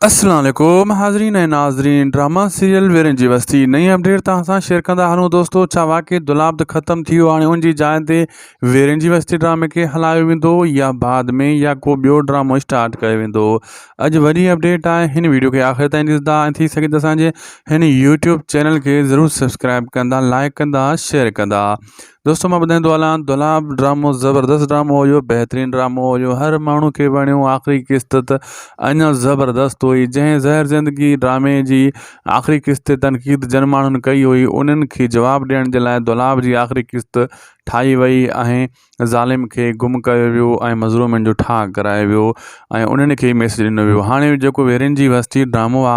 السلام عليڪم حاضرين ۽ ناظرين ڊراما سيريل ويرين جي وستي نئين اپڊيٽ توهان سان شيئر ڪندا هلون دوستو ڇا واقعي دولابد ختم ٿي ويو هاڻي ان جي جاء تي ويرين جي وستي ڊرامي کي هلايو ويندو يا بعد ۾ يا ڪو ٻيو ڊرامو اسٽارٽ ڪيو ويندو اڄ وڏي اپڊيٽ آهي هن ويڊيو کي آخر تائين ڏسندا ۽ ٿي سگهي ته اسان جي هن يوٽيوب چينل کي ضرور سبسڪرائب ڪندا لائڪ ڪندا شيئر ڪندا دوستو مان ٻڌائيندو هلان دولاب ڊرامو زبردست ڊرامو هيو بهترين ڊرامو هيو هر ماڻهو کي وڻيو آخري قسط ته اڃا زبردست هئي جنهن زهر زندگي ڊرامي جي آخري قسط تي تنقيد جن ماڻهن ڪئي هئي انهن کي جواب ڏيڻ جي لاء دولاب جي آخري قسط ٺاهي وئي ۽ ظالم کي گم ڪيو ويو ۽ مظلومن جو ٺاهه ڪرايو ويو ۽ انهن کي ميسج ڏنو ويو هاڻي جيڪو ويرين جي وستي ڊرامو آ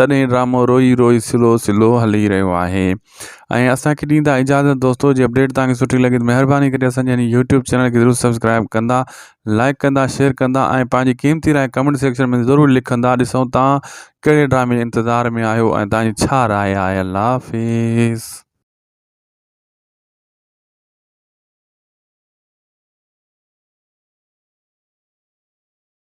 تڏهن ڊرامو روئي روئي سلو سلو هلي رهيو آهي ۽ اسان کي ڏيندا اجازت دوستو جي اپڊيٽ تان سٺي لڳي مهرباني ڪري اسان جي يوٽيوب چينل کي ضرور سبسڪرائب ڪندا لائڪ ڪندا شيئر ڪندا ۽ پنهنجي قيمتي راء ڪمنٽ سيڪشن ۾ ضرور لکندا ڏسون تا ڪهڙي ڊرامي انتظار ۾ آهيو ۽ تنهنجي ڇا راء آهي الله حافظ